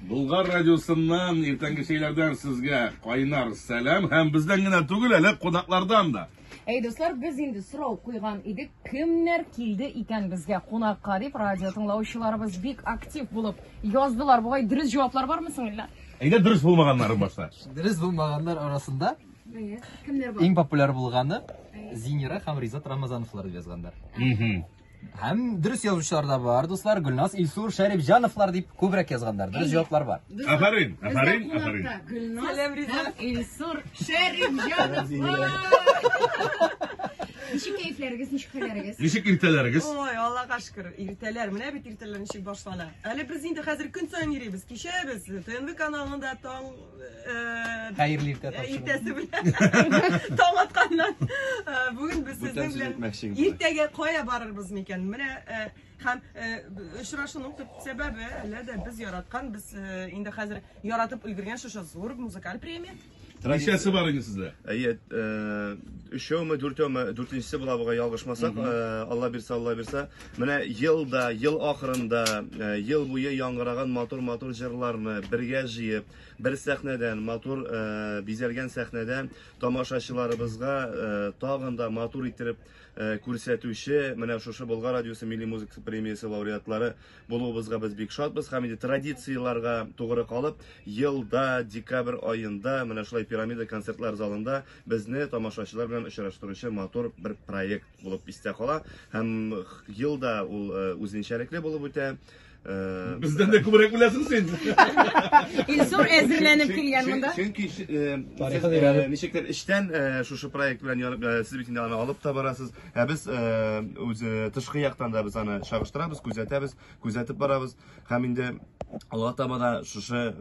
Болгар радиосыннан иртәнге шейләрдән сезгә кайнар сәлам һәм бездән генә түгел әле кунаклардан да. Әй дуслар, без инде сорау куйган идек, кемнәр килде икән безгә кунакка дип радио тыңлаучыларыбыз бик актив булып яздылар. Бугай дөрес җаваплар бармы соң әллә? Әйдә дөрес булмаганнары башта. Дөрес булмаганнар арасында Кемнәр бар? иң популяр булганы Зинира һәм Ризат Рамазановлар дип язганнар. Мгм. Һәм дөрес язучылар да бар, дуслар. Гөлназ, Илсур, Шәриф, Җановлар дип күбрәк язганнар. Дөрес җаваплар бар. Афәрин, афәрин, афәрин. Гөлназ һәм Илсур Шәриф Җановлар. Ничек кәефләрегез, ничек хәлләрегез? Ничек иртәләрегез? Ой, Аллага шөкер, иртәләр. Менә бит иртәләр ничек башлана. Әле без инде хәзер көн саен йөрибез, кичәбез. ТНВ каналында таң Хәерле иртә тапшыру. Иртәсе белән. Таң атканнан. Бүген без сезнең белән иртәгә кая барырбыз микән? Менә һәм очрашуның төп сәбәбе әле дә без яраткан, без инде хәзер яратып өлгергән шушы зур музыкаль премия. Ничәсе бар инде сездә? Әйе, өчәүме, дүртәүме, дүртенчесе була бугай ялгышмасак, Алла бирсә, Алла бирсә. Менә ел да, ел ахырында, ел буе яңгыраган матур-матур җырларны бергә җыеп, бер сәхнәдән, матур бизәлгән сәхнәдә тамашачыларыбызга тагын да матур иттереп күрсәтүче менә шушы Болгар радиосы милли музыка премиясе лауреатлары булуыбызга без бик шатбыз һәм инде традицияләргә тугры калып, елда декабрь аенда менә шулай пирамида концертлар залында безне тамашачылар белән очраштыручы матур бер проект. булып истә кала һәм ел да ул үзенчәлекле булып үтә. Бездән дә күбрәк беләсең син. Илсур әзерләнеп килгән монда. Чөнки ничектер эчтән шушы проект белән ярып сез бит инде аны алып та барасыз. Ә без үз тышкы яктан да без аны чагыштырабыз, күзәтәбез, күзәтеп барабыз. Һәм инде алга таба да шушы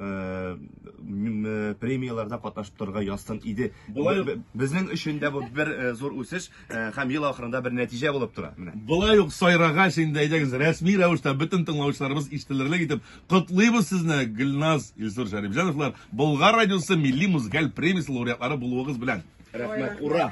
премияләрдә катнашып торырга язсын иде. Безнең өчен дә бу бер зур үсеш. Э, һәм ел ахырында бер нәтиҗә булып тора. Менә. Болай ук сайрагач инде әйдәгез рәсми рәвештә бөтен тыңлаучыларыбыз ишетелерлек итеп котлыйбыз сезне Гөлназ Илсур Шәрипҗановлар Болгар радиосы милли музыкаль премиясе лауреатлары булуыгыз белән. Рәхмәт, ура!